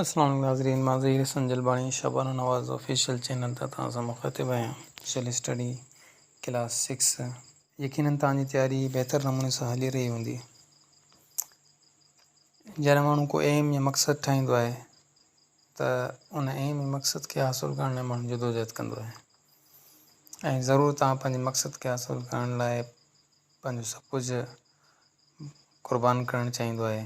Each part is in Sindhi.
اسلام عليڪم ناظرين مان ظهير حسن جلباڻي شبانه نواز آفيشل چينل تان توهان سان مخاطب آهيان سوشل اسٽڊي ڪلاس سڪس يقينن توهان جي تياري بهتر نموني سان هلي رهي هوندي جڏهن ماڻهو ڪو ايم يا مقصد ٺاهيندو آهي ته ان ايم يا مقصد کي حاصل ڪرڻ لاء ماڻهو جدوجهد ڪندو آهي ۽ ضرور توهان پنهنجي مقصد کي حاصل ڪرڻ لاء پنهنجو سڀ ڪجهه قربان ڪرڻ چاهيندو آهي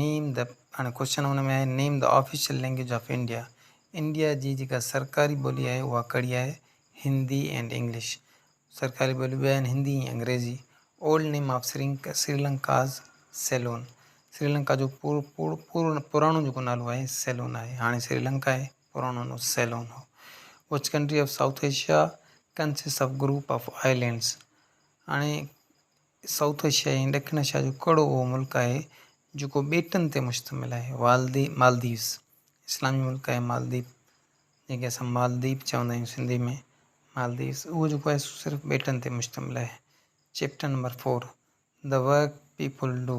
نيم دي هاڻي ڪوشچن ان ۾ آهي name the official language of India India جي جيڪا سرڪاري ٻولي آهي اها ڪھڙي آهي هندي اينڊ انگلش سرڪاري ٻوليون ٻه آهن هندي ۽ انگريزي اولڊ نيم آف سرينڪ سريلنڪاز سيلون سريلنڪا جو پور پور پور پراڻو جيڪو نالو آهي سيلون آهي هاڻي سريلنڪا آهي پراڻو نالو سيلون هو which country of South Asia consists of group of islands هاڻي سائوٿ ايشيا ۽ ڏکڻ ايشيا جو ڪهڙو اهو ملڪ آهي جيڪو ٻيٽن تي مشتمل آهي؟ والدي، مالديوز، اسلامي ملڪ آهي مالديپ جنهن کي اسان مالديپ چوندا آهيون سنڌي ۾ مالديوز اهو جيڪو آهي سو صرف ٻيٽن تي مشتمل آهي chapter number four The work people do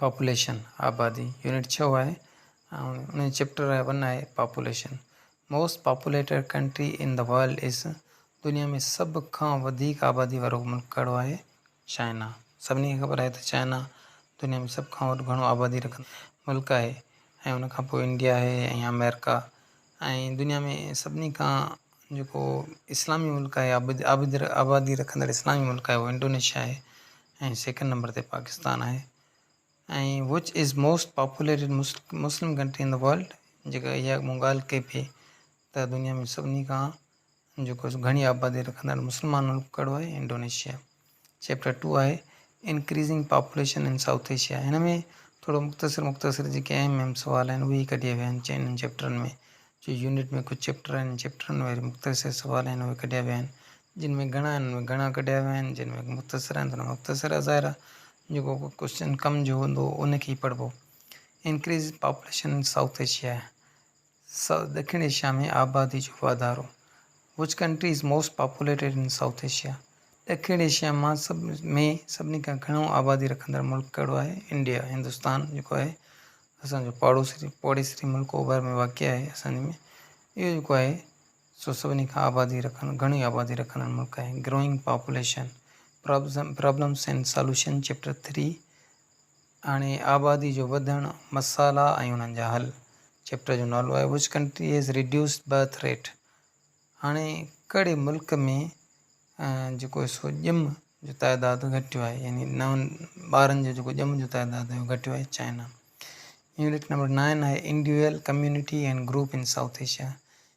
population, آبادي، يونٽ ڇهه آهي ۽ ان جو چيپٽر آهي ون آهي population. Most populated country in the world is, دنيا ۾ سڀ کان وڌيڪ آبادي وارو ملڪ ڪهڙو آهي؟ چائنا. سڀني کي خبر آهي ته چائنا دنيا ۾ سڀ کان وڏو گهڻو آبادي رکندڙ ملڪ آهي ۽ ان کان پوء انڊيا آهي ۽ آمريڪا. ۽ دنيا ۾ سڀني کان جيڪو اسلامي ملڪ آهي عابد آبادي رکندڙ اسلامي ملڪ آهي اهو انڊونيشيا آهي ۽ سيڪنڊ نمبر تي پاڪستان آهي ۽ which is most populated Muslim Muslim country in world جيڪا اها مون ڳالهه ڪئي پئي ته دنيا ۾ سڀني کان جيڪو گهڻي آبادي رکندڙ مسلمان ملڪ ڪهڙو آهي؟ انڊونيشيا. چيپٽر ٽو آهي Increasing Population in South Asia هن ۾ ٿورو مختصر مختصر جيڪي اهم اهم سوال آهن اهي ئي ڪڍيا ويا آهن انهن چيپٽرن ۾ جو يونٽ ۾ ڪجهه چيپٽر آهن انهن چيپٽرن ۾ مختصر سوال آهن اهي ڪڍيا ويا آهن جن ۾ گهڻا آهن انهن ۾ گهڻا ڪڍيا ويا آهن جن ۾ مختصر آهن انهن ۾ مختصر آهن ظاهر آهي جيڪو ڪو ڪوشچن ڪم جو هوندو انکي ئي پڙهبو Increasing Population in South Asia South, ڏکڻ ايشيا ۾ آبادي جو واڌارو Which country is most populated in South Asia؟ ڏکڻ ايشيا مان سڀ ۾ سڀني کان گهڻو آبادي رکندڙ ملڪ ڪهڙو آهي؟ انڊيا، هندستان جيڪو آهي اسان جو پاڙوسري پوڙيسري ملڪ اوڀر ۾ واقع آهي اسان جي ۾ اهو جيڪو آهي سو سڀني کان آبادي رکن گهڻي آبادي رکندڙ ملڪ آهي Growing Population problems problems and solution chapter three هاڻي آبادي جو وڌڻ، مسئلا ۽ انهن جا حل چيپٽر جو نالو آهي Which Country Has Reduced Birth Rate؟ هاڻي ڪهڙي ملڪ ۾ جيڪو سو ڄم جو تعداد گهٽيو آهي يعني نون ٻارن جو جيڪو ڄم جو تعداد آهي اهو گهٽيو آهي چائنا يونٽ نمبر نائن آهي Individual Community and Group in South Asia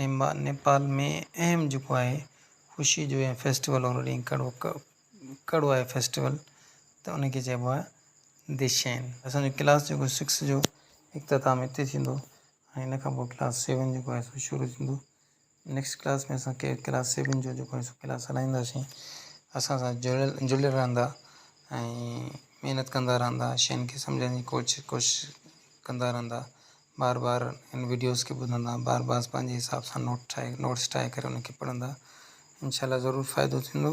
نيمبا، نيپال ۾ اهم جڪو آهي خوشي جو ۽ فيسٽيول اورو ڏينهن ڪڙو ڪڙو آهي فيسٽيول ته ان کي چئبو آهي دشين. اسان جو ڪلاس جيڪو سڪس جو اختتام هتي ٿيندو ۽ ان کان پوء ڪلاس سيون جيڪو آهي سو شروع ٿيندو نيڪسٽ ڪلاس ۾ اسان کي ڪلاس سيون جو جيڪو آهي سو ڪلاس هلائينداسين اسان سان جڙيل جڙيل رهندا ۽ محنت ڪندا رهندا شين کي سمجهڻ جي ڪوشش ڪوشش ڪندا رهندا. بار بار ان وڊيوز کي ٻڌندا بار بار پنهنجي حساب سان نوٽ ٺاهي نوٽس ٺاهي ڪري ان کي پڙهندا انشاء الله ضرور فائدو ٿيندو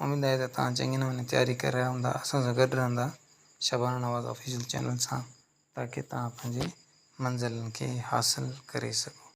اميد آهي ته تان چڱي نموني تياري ڪري رهيا هوندا اسان سان گڏ رهندا شبانه نواز آفيشل چينل سان تاڪي تان پنهنجي منزلن کي حاصل ڪري سگهو